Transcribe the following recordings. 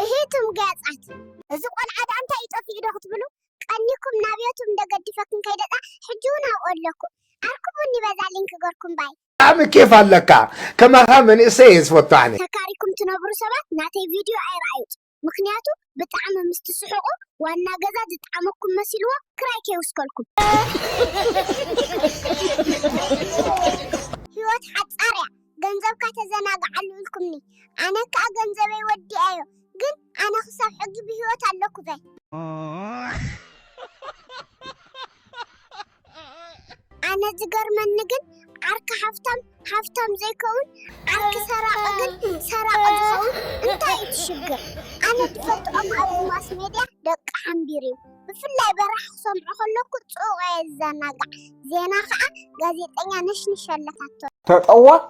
እሂ ቱም ገያጻት እዚ ቆልዓ ዳኣ እንታይ እዩ ጠፊኡ ዶ ክትብሉ ቀኒኩም ናብ ዮቱብ እንደ ገድፈክን ከይደ ዳኣ ሕጂ ውን ኣብኡ ኣለኩም ኣርኩቡኒ በዛ ሊንክ ገርኩም ባይ። ብጣዕሚ ኬፍ ኣለካ ከማካ መንእሰይ እየ ዝፈቱ ኣነ። ተካሪኩም ትነብሩ ሰባት ናተይ ቪድዮ ኣይረኣዩጽ ምክንያቱ ብጣዕሚ ምስ ትስሕቁ ዋና ገዛ ዝጠዓመኩም መሲልዎ ክራይ ከይውስከልኩም። ሂወት ሓጻር እያ ገንዘብካ ተዘናግዓሉ ኢልኩምኒ ኣነ ክኣ ገንዘበይ ወዲኣዮ ግን ኣነ ክሳብ ሕጊ ብሂወት ኣለኩ በል። ኣነ ዝገርመኒ ግን ዓርኪ ሃፍታም ሃፍታም ዘይከውን ዓርኪ ሰራቂ ግን ሰራቂ ዝከውን እንታይ እዩ እቲ ሽግር ኣነ ዝፈልጦ ኦም ኣብ ማስ ሜድያ ደቂ ሓምቢር እዩ ብፍላይ በራኪ ክሰምዖ ከለኩ ጽኡቅ እየ ዝዘናጋዕ ዜና ከኣ ጋዜጠኛ ነሽንሽ ኣለታቶ። ተጠወቅ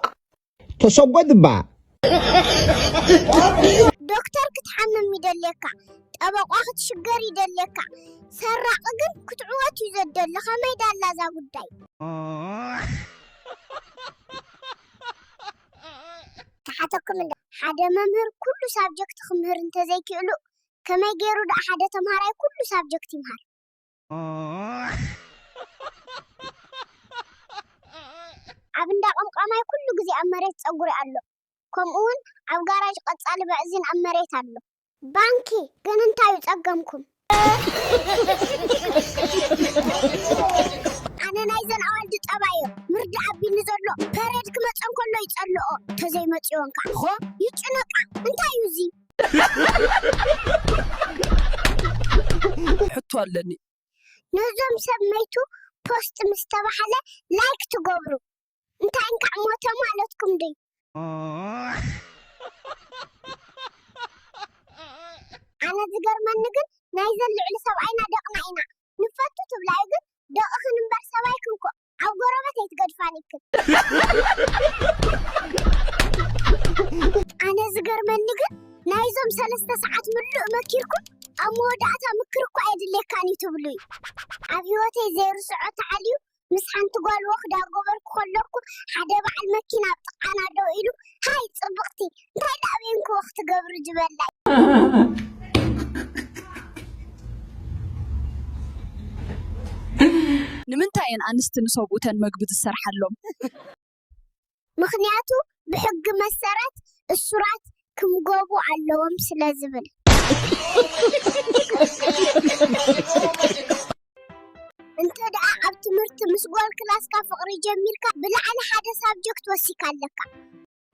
ተሰጎድ እባ። ዶክተር ክትሓምም ይደልየካ ጠበቋ ክትሽገር ይደልየካ ሰራቂ ግን ክትዕወት እዩ ዘደሊ ከመይ ዳላ እዛ ጉዳይ። ክሓተኩም እንደ ሓደ መምህር ኩሉ ሳብጀክት ክምህር እንተዘይክእሉ ከመይ ጌሩ ድኣ ሓደ ተምሃራይ ኩሉ ሳብጀክት ይምሃር? ኣብ እንዳ ቀምቃማይ ኩሉ ግዜ ኣብ መሬት ጸጉሪ ኣሎ ከምኡ ውን ኣብ ጋራጅ ቀጻሊ በዕዚን ኣብ መሬት ኣሎ። ባንኪ ግን እንታይ እዩ ጸገምኩም። ኣነ ናይዘን ኣዋልድ ጠባይ እዮ ምርዳእ ኣቢኒ ዘሎ ፐሬድ ክመጸን ከሎ ይጸልኦ ተዘይ መጽወን ካኣ ይጭነቃ እንታይ እዩ እዚ። ሕቶ ኣለኒ። ነዞም ሰብ መይቱ ፖስት ምስ ተባህለ ላይክ ትገብሩ እንታይ እንካዕ ሞተ ማለትኩም ድዩ? ኣነ ዝገርመኒ ግን ናይዘን ልዕሊ ሰብኣይና ደቕና ኢና ንፈቱ ትብላ እዩ ግን ደቕኽን እምበር ሰባይክን ኮእ ኣብ ጎረበት ኣይትገድፋን ይክል ኣነ ዝገርመኒ ግን ናይዞም ሰለስተ ሰዓት ምሉእ መኪርኩም ኣብ መወዳእታ ምክር እኳ የድልየካን እዩ ትብሉ እዩ ኣብ ህይወተይ ዘይርስዖ ተዓልዩ ምስ ሓንቲ ጓል ወክዳ ጎበርኩ ከለኩ ሓደ በዓል መኪና ኣብ ጥቃና ደው ኢሉ ሃይ ፅብቅቲ እንታይ ደኣ ቤንኩ ክትገብሪ ዝበላይ ንምንታይ እየን ኣንስቲ ንሰብኡተን መግቢ ዝሰርሓሎም? ምኽንያቱ ብሕጊ መሰረት እሱራት ክምገቡ ኣለዎም ስለ ዝብል። እንተ ደኣ ኣብ ትምህርቲ ምስ ጓል ክላስካ ፍቕሪ ጀሚርካ ብላዕሊ ሓደ ሳብጀክት ወሲካ ኣለካ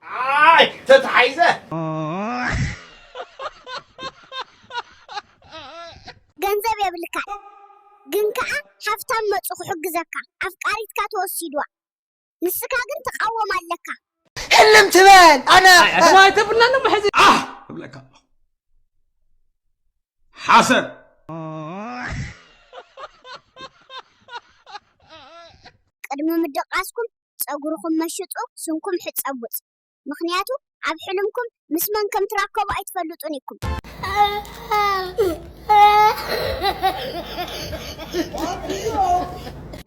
ኣይ ተታሒዘ ገንዘብ የብልካን ግን ከዓ ሃብታም መፁ ክሕግዘካ ኣፍቃሪትካ ተወሲድዋ ንስካ ግን ትቃወም ኣለካ ህልም ትበል ኣነ ዋይ ተብልና ዶ መሕዚ ኣህ እብለካ ኣለኹ ሓሰር ቅድሚ ምድቃስኩም ጸጉርኩም መሽጡ ስምኩም ሕጸቡጽ ምክንያቱ ኣብ ሕልምኩም ምስ መን ከም ትራከቡ ኣይትፈልጡን ኢኩም።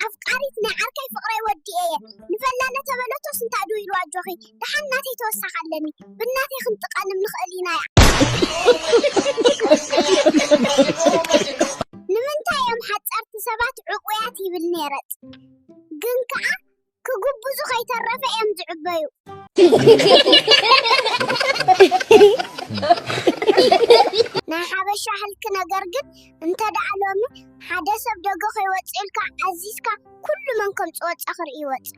ኣፍቃሪት ናይ ዓርከይ ፍቅረይ ወዲኤ እየ ንበላ ለተበለቶስ እንታይ ዶ ኢሉ ኣጆኺ ደሓን ናተይ ተወሳኺ ኣለኒ ብናተይ ክንጥቀንም ንኽእል ኢና ንምንታይ እዮም ሓጸርቲ ሰባት ዕቡያት ይብል ነረጽ ግን ከኣ ክጉብዙ ከይተረፈ እዮም ዝዕበዩ። ናይ ሓበሻ ህልክ ነገር ግን እንተ ደኣ ሎሚ ሓደ ሰብ ደገ ከይወጽእ ኢልካ ኣዚዝካ ኩሉ መን ከም ዝወጸ ክርኢ ይወጽእ።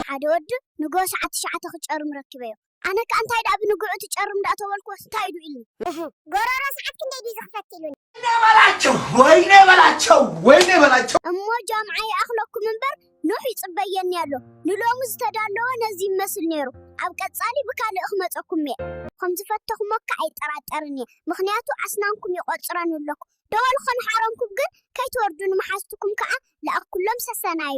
ሓደ ወዲ ንጎ ሰዓት ትሽዓተ ክጨርም ረኪበዮ። ኣነ ከኣ እንታይ ደኣ ብንግዑ ትጨርም እንዳተበልኩዎስ እንታይ ኢዩ ኢልኒ። እህ ጎሮሮ ሰዓት ክንደይ ድዩ ዝኽፈት ኢሉኒ። ወይኔ በላቸው ወይኔ በላቸው ወይኔ በላቸው። እሞ ጃምዓ ይኣኽለኩም እምበር ኖህ ይጽበየኒ ኣሎ ንሎሚ ዝተዳለወ ነዚ ይመስል ኔሩ ኣብ ቀጻሊ ብካልእ ክመጸኩም'የ። ከም ዝፈተኹሞካ ኣይጠራጠርን እየ ምኽንያቱ ኣስናንኩም ይቖጽረን ኣለኩ ደወል ከንሓረምኩም ግን ከይትወርዱ ንመሓዝትኩም ከኣ ለኣኩሎም ሰሰናዩ።